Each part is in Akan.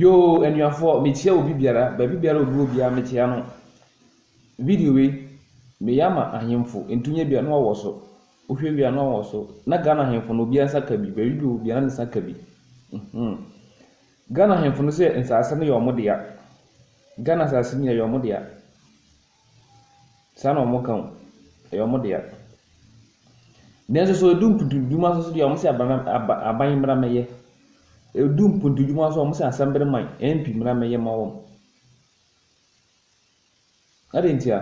Yoo anuafoɔ mekyia obi biara baabi biara obi wɔ biara mekyia no. Video wei meyɛ ama ahemfo nti wonyɛ bi a na wawɔ so. Wohwɛ wie a na wawɔ so. Na Ghana ahemfo no obiara nsa ka bi baabi biara obi wɔ biara ne nsa ka bi. Ghana ahemfo no sɛ nsaase no yɛ wɔn dea. Ghana nsaase no yɛ wɔn dea. Saa na wɔka o, ɛyɛ wɔn dea. Nanso sɛ ɛdu mpuntuntuma so deɛ, wɔse aban aban mmra mmɛyɛ. Ɛdu mpuntuntuma so a, wɔse Asɛmberɛman, MP mmra mmɛyɛ mma wɔn. Adɛn ntia?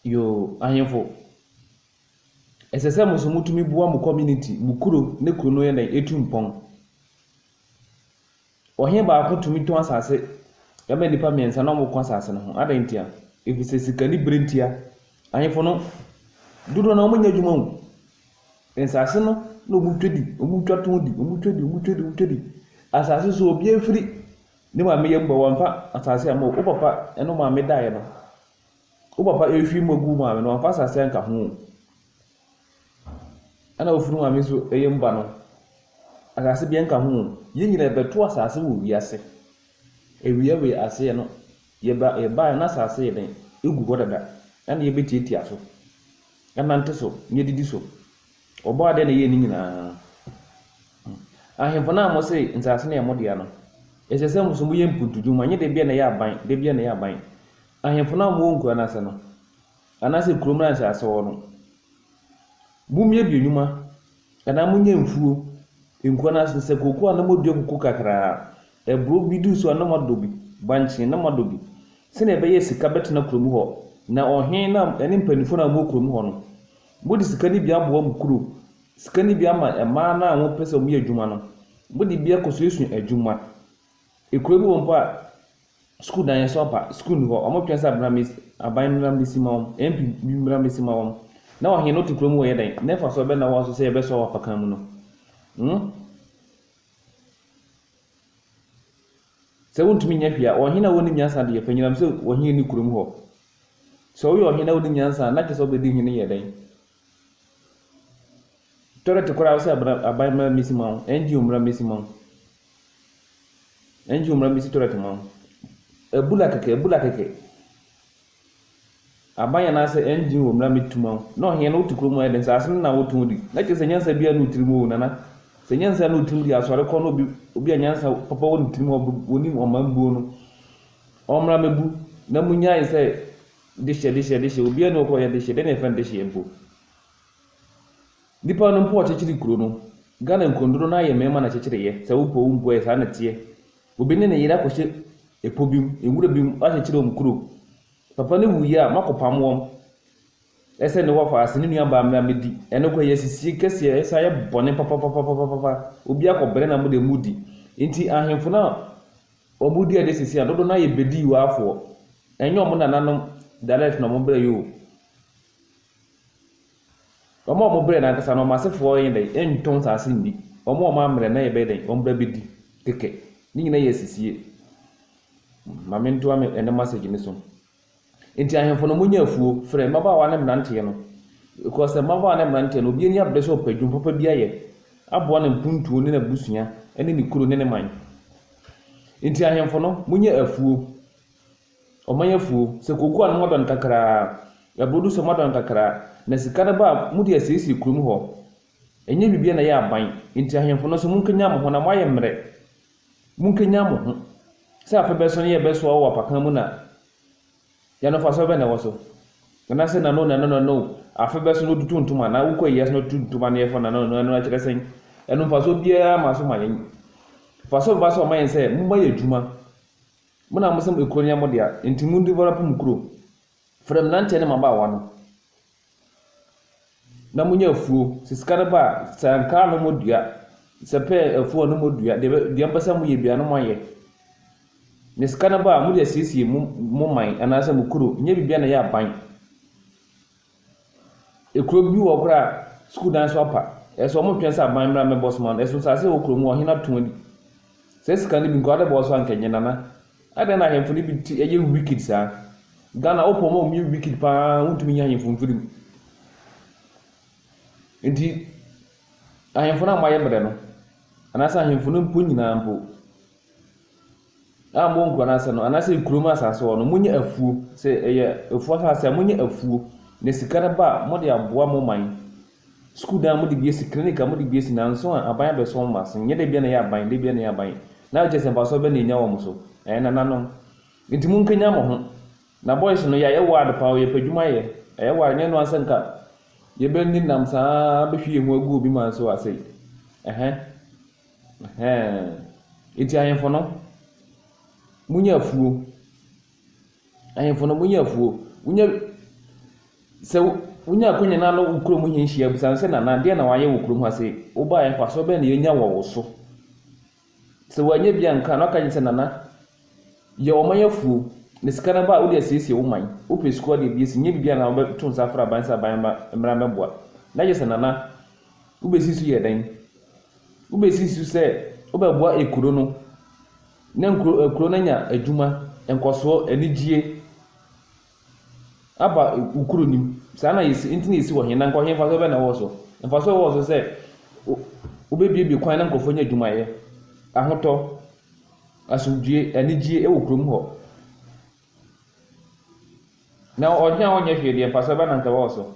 Yoo, ahemfo, ɛsɛ sɛ mo nso motumi boa mo community, mo kuro, na kuro no yɛ dɛn? Ɛtu mpɔn. Ɔhene baako tumi tɔn asase de ma nnipa mmiɛnsa na wɔko asase no ho. Adɛn ntia? Efisɛ sika ne bere ntia. Ahemfo no, dodoɔ no ara wɔnyɛ adwuma o. Nsase no na wɔtwa di, wɔtwa tɔn di, wɔtwa di, wɔtwa di, wɔtwa di. Asase nso obiara firi ne maame yam ba, wamfa asase amma o. Wo papa ne wo maame daeɛ no, wo papa rehwie mu agu wo maame no, wamfa asase anka ho o. Ɛna ofunu maame nso yɛ mu ba no. Asase biara nka ho o. Yɛn nyinaa yɛbɛto asase wɔ wiase. Awia wei aseɛ no, yɛba yɛbaeɛ na asase yɛ dɛn? Egu hɔ dada. Ɛna yɛbɛtiatia so. Ɛnante so, na yɛdidi so. Ɔbɔɔ adeɛ na ɛyɛɛ ne nyinaa. Ahemfo no a wɔse nsase no yɛ mo dea no, ɛsɛ sɛ mo nso moyɛ mpuntudwuma, nyɛ da biara na ɛyɛ aban, da biara na ɛyɛ aban. Ahemfo no a wɔwɔ nkuro anaasɛ no, anaasɛ kurom na nsase wɔ no, momyɛ bi nnwuma, anaa monyɛ mfuo, nkuo anaa sɛ kooko a na modua kuku kakraa, aburoo bi duru so a na moadɔ bi, bankye na moadɔ bi, sɛdeɛ ɛbɛyɛ sika bɛtena kurom hɔ, na ɔhene no a, ne mpanimfoɔ no a wɔwɔ kurom hɔ no, mode sika no bi aboa mo kuro, sika no bi ama mmaa no a wɔpɛ sɛ wɔyɛ adwuma no, mode bi akɔsuasua adwuma, kuro bi wɔ mpo a, Sukuu dan yɛn so apa, sukuu nni hɔ, wɔtwɛn sɛ abena bes aban mmra mmesi ma wɔn, MP bi mmra mmesi ma wɔn. Na ɔhen no te kuro mu ɔyɛ dɛn? Ne mfasoɔ bɛn na ɛwɔ so sɛ yɛbɛsoa wɔ afakan mu no? Hmm? Sɛ wontumi nyɛ hwee a, ɔhen a wɔnim nyansa deɛ, fa nyinam sɛ ɔhen nni kurom hɔ. Sɛ woyɛ ɔhen na wonim nyansa a, na kyerɛ sɛ wobɛdi hene yɛ dɛn? Toilet koraa wosɛ abra aban mmra mmesi ma wo, NGO mmra mmesi ma wo, NGO mmra mmesi toilet ma wo. Abura kɛkɛ, abura kɛkɛ. Aban anaasɛ NGO mmra mmetu ma wo. Na ɔhene no wote kurom a ɛyɛ dɛ, nsaase no na wotɔn di. Na kyerɛ sɛ nyansa biara nni wo tirim oo nana. Sɛ nyansa nni wo tirim deɛ asɔre kɔ na obi obi a nyansa papa wɔ ne tirim a ɔnim ɔman buo no, ɔmmra mmɛbu na munyae sɛ Dehye, dehye, dehye, obiara nni hɔ kɔ yɛ dehye, dɛn na yɛfrɛ no dehye mpo? Nnipa no mpo a wɔkyekyere kuro no, Ghana nkuro no dodoɔ no ara yɛ mmarima na ɛkyekyere yɛ, sɛ wopɛ o wompɛ o ɛyɛ saa na ɛteɛ. Obi ne ne yere akɔhyɛ ɛpo bi mu, nwura bi mu, wɔakyekyere wɔn kuro. Papa no wuiɛ a, moakɔpam wɔn, ɛsɛ ne wɔfa ase, ne nuabaa mmra mmɛdi, ɛno koraa ɛyɛ asisie kɛseɛ, ɛsan yɛ bɔne papapapapapapa, obiara kɔbrɛ na mo deɛ modi. Nti ahemfo no a Wɔn mu dua de sisi na dodow no ara yɛ Bediiwafoɔ. Ɛnyɛ wɔn nananom dialect na wɔbrɛ yi o. Wɔn a wɔbrɛ no ankasa no, wɔn asefoɔ nyɛ dɛn, ɛntɔn nsaase nni. Wɔn a wɔammerɛ no na yɛbɛyɛ dɛn, wɔbrɛ abɛdi kɛkɛ. Ne nyinaa yɛ asisie. Ma mentoa me ɛnnɛ message no so. Enti ahemfo no, monyɛ afuo, frɛ, mmabaawa ne mmeranteɛ no, ɛkɔɔ sɛ, mmabaawa ne mmeranteɛ no, obi ani abere sɛ ɔpɛ adwuma papa bi ayɛ, aboa ne mpuntuo ne n'abusua ne ne kuro ne ne man. Enti ahemfo no, monyɛ afuo, ɔman afuo, sɛ kooko a na moadɔn kakra ara, ɛborodo nso a moadɔn kakra ara, na sika no ba a, mode asiesie kurom hɔ, ɛnyɛ biribiara na ɛyɛ aban. Enti ahemfo no nso, monkanyan mo ho na moayɛ mmerɛ. Munkenyan mo ho. Sɛ afe bɛso ne yɛbɛsoa wo wɔ apakan mu na yɛanofasɔ bɛn na ɛwɔ so? Anaasɛ nano na ɛno na ɛno afe bɛso na otutu ntoma anaa wokɔ ayiase na otutu ntoma na yɛfɔ nano na ɛno ɛkyerɛ sɛn? Ɛno mfasoɔ biara ama so ma yɛn. Mfasoɔ bɛba so ama yɛn sɛ momma yɛ adwuma. Mo na mose ekuro no yɛ mo dea, enti mudi bɔra mpo mo kuro. Frɛ mmeranteɛ ne mmabaawa no. na munya efuo. Sɛ sika no ba a, sɛ ankaa na ɔmo dua, sɛ pear efuo a na ɔmo dua, deɛ bɛ deɛ ɔmo pɛ sɛ moyɛ biaa na mo ayɛ. Na sika no ba a, mode asiesie mo mo man anaasɛ mo kuro, nyɛ biribiaa na ɛyɛ aban. Ekuro bi wɔ hɔ koraa a, sukuu dan so apa, ɛso ɔmo ntwɛn sɛ aban mmra mmɛbɔ so mma no, ɛso nsaase wɔ kuro mu a ɔhene ato adi. Saa sika no bi nka wode bɛbɔ so a nka ɛnyɛ nana. Adɛn na ahemfo no bi te yɛ wicked saa? Ghana wopɔ ma wɔyɛ wicked paa wontumi nyɛ ahemfo mfiri mu. Nti ahemfo no a moayɛ brɛ no anaasɛ ahemfo no mpo nyinaa mpo a mowɔ nkuro no ase no anaasɛ kurom asase hɔ no monyɛ afuo sɛ ɛyɛ afuo asase a monyɛ afuo na sika no ba a mode aboa mo man. Sukuu dan a wɔde bi asi, clinic a wɔde bi asi, nanso a aban abɛsɔ wɔn ase. Nyɛ da biara na ɛyɛ aban, da biara na ɛyɛ aban. Na ɛkyerɛ sɛ mfasoɔ bɛn na ɛnya wɔn so? Ɛɛ nananom. Nti monkanyan mo ho. Na boys no, yɛayɛ wild paa o, yɛpɛ adwuma yɛ. Ɛyɛ wild, nyɛ noaa sɛ nka yɛbɛni nam saa ara bɛhwie yɛn ho agu obi man so a sei. Ɛhɛ. Ɛhɛɛ. Nti ahemfo no, monyɛ afuo. Ahemfo no, monyɛ afuo. Wonya sɛ wonya akwanya na wo kurom hene hyia bisa sɛ, Nana, deɛn na wayɛ wɔ kurom ha sei? Wobaeɛ, mfasoɔ bɛn na yɛnya wɔ wo so? Sɛ wanyɛ bi anka a, na waka akyerɛ sɛ, Nana, yɛ ɔman afuo, na sika no ba a, wode asiesie wo man. Wopɛ sukuu a, wode abue. Sɛ nyɛ biribi a, na wobɛto nsa afrɛ aban sɛ aban mmra mmɛboa. Na kyerɛ sɛ, Nana, wobɛsi so yɛ dɛn? Wobɛsi so sɛ wobɛboa ekuro no. Ne nkuro nkuro no anya adwuma, nkɔsoɔ, anigyie aba wo kuro no mu. Saa na yɛsi nti na yɛsi wɔ he na nka he mfasoɔ bɛn na ɛwɔ so? Mfasoɔ a ɛwɔ so sɛ wo wobɛbuebue kwan na nkurɔfoɔ nya adwumayɛ, ahotɔ, asomdwoeɛ, anigyie wɔ kurom hɔ. Na ɔhe a ɔnyɛ hwee deɛ mfasoɔ bɛn na nka ɛwɔ so?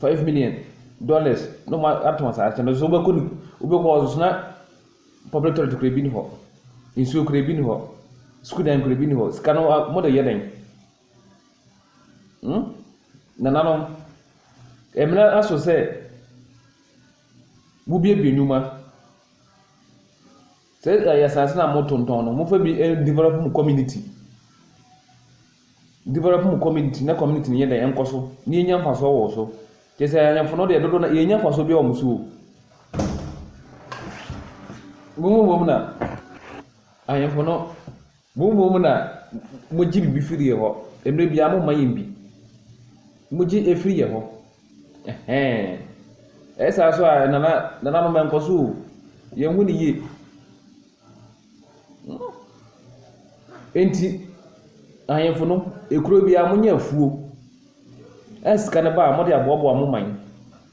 Five million dollars na ɔmo atɔn saa kyɛ no so wobɛkɔ no wobɛkɔ hɔ soso na public toilet kura bi ni hɔ nsuo kura bi ni hɔ sukuu dan kura bi ni hɔ sika no mo de yɛ dɛn hmm nananom ɛmina aso sɛ wobiebie nnwuma. Sɛ ɛyɛ asase na mo tontɔn no, mo fa bi develop mo community. Develop mo community na community no yɛ dɛ ɛnkɔ so na yɛnya mfasoɔ wɔ so. Kyɛ sɛ ayɛnfo no deɛ dodo no yɛnya mfasoɔ bi wɔ mo so o. Mo mu bom na ayɛnfo no. Mo mmom na mogye biribi firi yɛ hɔ, mmerɛ biara momma yɛn bi. Mogye ɛfiri yɛ hɔ. Ɛhɛn. Ɛyɛ saa nso a, nana, nananom ɛnkɔ so o. Yɛn ho ne yie. Hmm. Enti, ahemfo no, ekuro biara monya afuo. Ɛn sika no ba a, mode aboaboa mo man.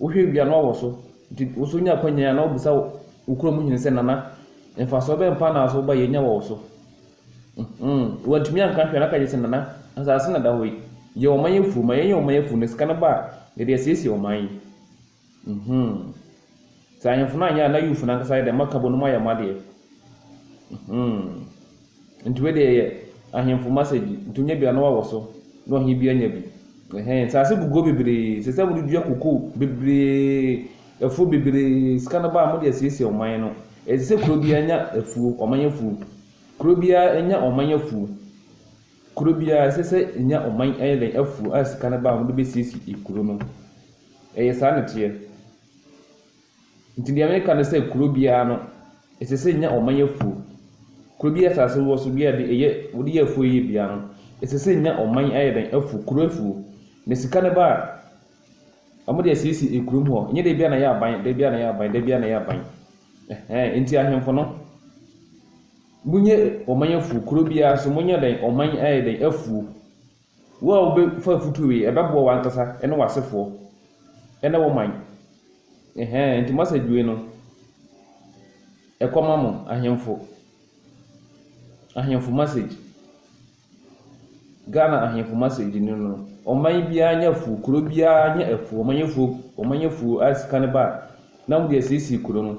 Wohwɛ wie a na ɔwɔ so. Nti wo nso nya akwanya yi a na wobisa wo kurom hene sɛ, Nana, mfasoɔ bɛn paa na aso ba yi anya wɔ wo so? Mhmm. Wantumi anka hwee na aka gye sɛ, Nana, asaase na ɛda hɔ yi, yɛ ɔman afuo. Ma yɛnyɛ ɔman afuo na sika no ba a, yɛde asiesie ɔman yi. Mhmm. Sɛ ahemfo no anyɛ a, na Youth no ankasa ayɛ dɛn? Makabo no moayɛ mo adeɛ. Mhmm. Nti wei deɛ yɛ ahemfo masagi, nti wonya bi a na wawɔ so na ɔhene bi anya bi. Ɛhɛn, nsaase guguo bebree, ɛsɛ sɛ mode dua kokoo bebree, afuo bebree, sika no ba a mode asiesie ɔman no. Ɛsɛ sɛ kuro biara nya afuo, ɔman afuo. Kuro biara nya ɔman afuo. Kuro biara ɛsɛ sɛ ɛnya ɔman ɛyɛ dɛn, afuo a sika no ba a wɔde bɛsiesie kuro no. Ɛyɛ saa na ɛteɛ. Nti deɛ meka ne sɛ kuro biara no ɛsɛ sɛ ɛnya ɔman afuo. Kuro biara asase wɔ so biara deɛ ɛyɛ wɔde yɛ afuo yɛ biara no ɛsɛ sɛ ɛnya ɔman ayɛ dɛn afuo kuro afuo. Na sika no ba a wɔde asiesie ɛkuro mu hɔ nyɛ da biara na ɛyɛ aban da biara na ɛyɛ aban da biara na ɛyɛ aban. Ɛhɛɛn nti ahemfo no monyɛ ɔman afuo kuro biara nso monyɛ dɛn ɔman ayɛ dɛn afuo. Wo a wobɛfa afotuo wei, ɛbɛboa w'ankasa ne w'asefoɔ ne wo man. Ɛhɛn, nti message wei no, ɛkɔma mo ahemfo. Ahemfo message. Ghana ahemfo message no no, ɔman biara nyɛ afuo, kuro biara nyɛ afuo, wɔn ayɛ afuo, wɔn ayɛ afuo a sika no ba a, na wɔde asiesie kuro no.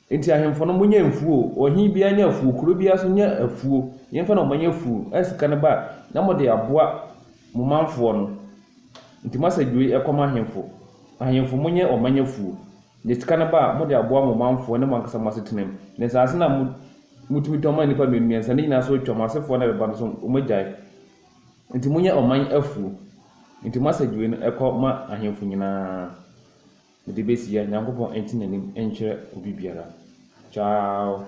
Enti ahemfo no, monyɛ mfuo o, ɔhene biara nyɛ afuo, kuro biara nso nyɛ afuo, yɛmfa nneɛma nyɛ afuo, a sika no ba a, na mode aboa mo manfoɔ no. Enti moasɛ dwoe kɔma ahemfo, Ahemfo, monyɛ ɔman afuo, na sika no ba a, mode aboa mo manfoɔ ne mo ankasa mo asetenam. Na nsase no a motumi tɔn maa nnipa mmienu mmiɛnsa no nyinaa so retwa, mo asefoɔ no a ɛbɛba no nso, wɔagyae. Enti monyɛ ɔman afuo. Enti moasɛ dwoe no kɔma ahemfo nyinaa. Mede besi a Nyankopɔn nte n'anim nkyerɛ obi biara. Ciao.